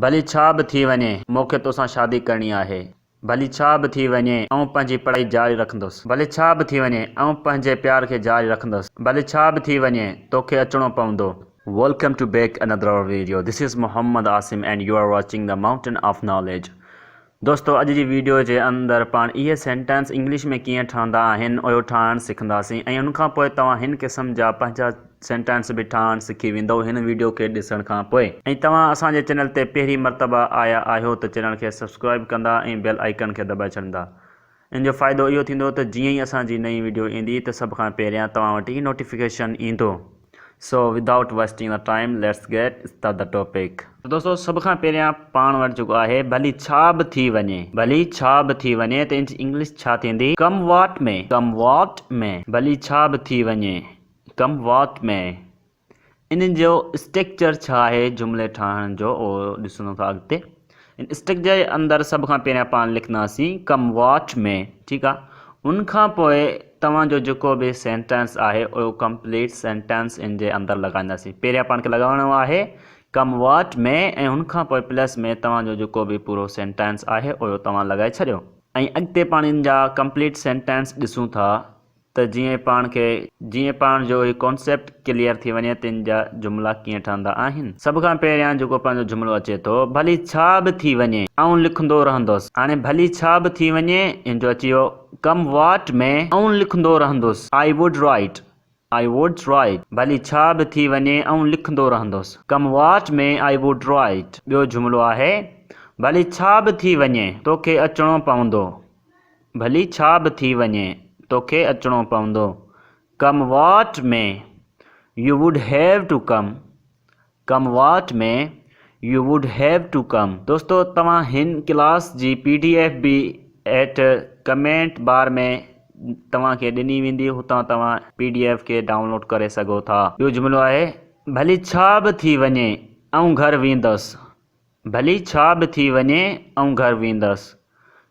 ڀلي ڇا به ٿي وڃي، مون کي توسان شادي ڪرڻي آهي. ڀلي ڇا به ٿي وڃي، آئون پنهنجي پڙهائي جاري رکندس. ڀلي ڇا به ٿي وڃي، آئون پنهنجي پيار کي جاري رکندس. ڀلي ڇا به ٿي وڃي، توکي اچڻو پوندو. Welcome to back another video this is Mohammad Asim and you are watching the mountain of knowledge دوستو اڄ جي ويڊيو جي اندر پاڻ اهي سينٽينس انگلش ۾ ڪيئن ٺهندا آهن اهو ٺاهڻ سکنداسين ۽ ان کان پوء توهان هن قسم جا پنهنجا سينٽينس به ٺاهڻ سکي ويندئو هن ويڊيو کي ڏسڻ کان پوء. ۽ توهان اسان جي چينل تي پهرين مرتبه آيا آهيو ته چينل کي سبسڪرائيب ڪندا ۽ بيل آئيڪن کي دٻائي ڇڏندا ان جو فائدو اهو ٿيندو ته جيئن ئي اسان جي نئين وڊيو ايندي ته سڀ کان پهريان توهان وٽ هي نوٽيفڪيشن ايندو. So without wasting the time let's get start the topic. ته دوستو سڀ کان پهريان پاڻ وٽ جيڪو آهي ڀلي ڇا به ٿي وڃي ڀلي ڇا به ٿي وڃي ته ان جي انگلش ڇا ٿيندي ڪم واٽ مي ڪم واٽ مي ڀلي ڇا به ٿي وڃي ڪم واٽ مي انهن جو اسٽرڪچر ڇا آهي جملي ٺاهڻ جو اهو ڏسندو ٿا اڳتي اسٽرڪچر جي اندر سڀ کان پهريان پاڻ لکنداسين ڪم واچ مي ٺيڪ آهي ان کان پوء توهان جو جيڪو به سينٽينس آهي اهو ڪمپليٽ سينٽينس ان جي اندر لڳائينداسين پهريان پاڻ کي لڳائڻو آهي ڪم واچ مي ۽ ان کان پوء پلس مي توهان جو جيڪو به پورو سينٽينس آهي اهو توهان لڳائي ڇڏيو ۽ اڳتي پاڻ ان جا ڪمپليٽ سينٽينس ڏسون ٿا ته جيئن پاڻ کي جيئن پاڻ جو هي ڪانسيپٽ ڪليئر ٿي وڃي تن جا جملا ڪيئن ٺهندا آهن. سڀ کان پهريان جيڪو پنهنجو جملو اچي ٿو ڀلي ڇا به ٿي وڃي آئون لکندو رهندس هاڻي ڀلي ڇا به ٿي وڃي ان جو اچي ويو ڪم واٽ ۾ آئون لکندو رهندس I would write I would write ڀلي ڇا به ٿي وڃي آئون لکندو رهندس come what ۾ I would write ٻيو جملو آهي ڀلي ڇا به ٿي وڃي توکي اچڻو پوندو ڀلي ڇا به ٿي وڃي توکي اچڻو پوندو come what may you would have to come come what may you would have to come. دوستو توهان هن ڪلاس جي پي ڊي ايف به هيٺ ڪمينٽ بار ۾ توهان کي ڏني ويندي هتان توهان پي ڊي ايف کي ڊائون لوڊ ڪري سگهو ٿا. ٻيو جملو آهي ڀلي ڇا به ٿي وڃي آئون گهر ويندس ڀلي ڇا به ٿي وڃي آئون گهر ويندس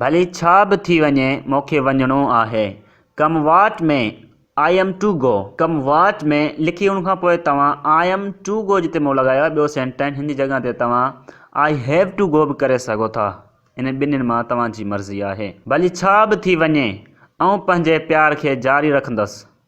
ڀلي ڇا به ٿي وڃي مون کي وڃڻو آهي. Come what may I am to go. Come what may لکي ان کان پوء توهان آئي ايم ٽو گو جتي مون لڳايو آهي ٻيو سينٽينس هن جي جڳهه تي توهان آئي هيو ٽو گو به ڪري سگهو ٿا. انهن ٻنهين مان توهان جي مرضي آهي. ڀلي ڇا به ٿي وڃي آئون پنهنجي پيار کي جاري رکندس.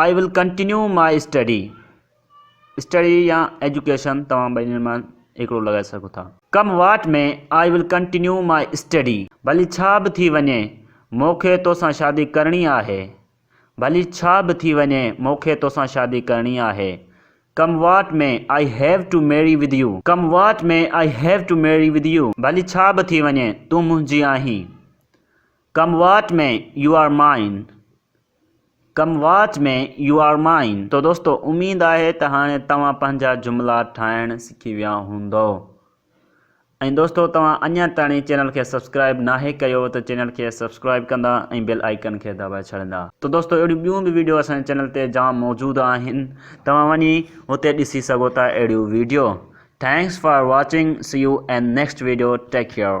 I will continue my study, study يا ايجوڪيشن توهان ٻنهي مان هڪڙو لڳائي سگهو ٿا. Come what ۾ I will continue my study. ڀلي ڇا به ٿي وڃي مون کي توسان شادي ڪرڻي آهي. ڀلي ڇا به ٿي وڃي مون کي توسان شادي ڪرڻي آهي. Come what may I have to marry with you. Come what may I have to marry with you. ڀلي ڇا به ٿي وڃي تون منهنجي آهين. Come what may you are mine. Come what may you are mine تو دوستو اميد آهي ته هاڻي توهان پنهنجا جملا ٺاهڻ سکي ويا هوندؤ ۽ دوستو توهان اڃا تائڻي چينل کي سبسڪرائب ناهي ڪيو ته چينل کي سبسڪرائب ڪندا ۽ بيل آئيڪن کي دٻائي ڇڏندا. تو دوستو اهڙيون ٻيون به ويڊيو اسان جي چينل تي جام موجود آهن توهان وڃي هتي ڏسي سگهو ٿا اهڙيون video thanks for watching see you in next video take care.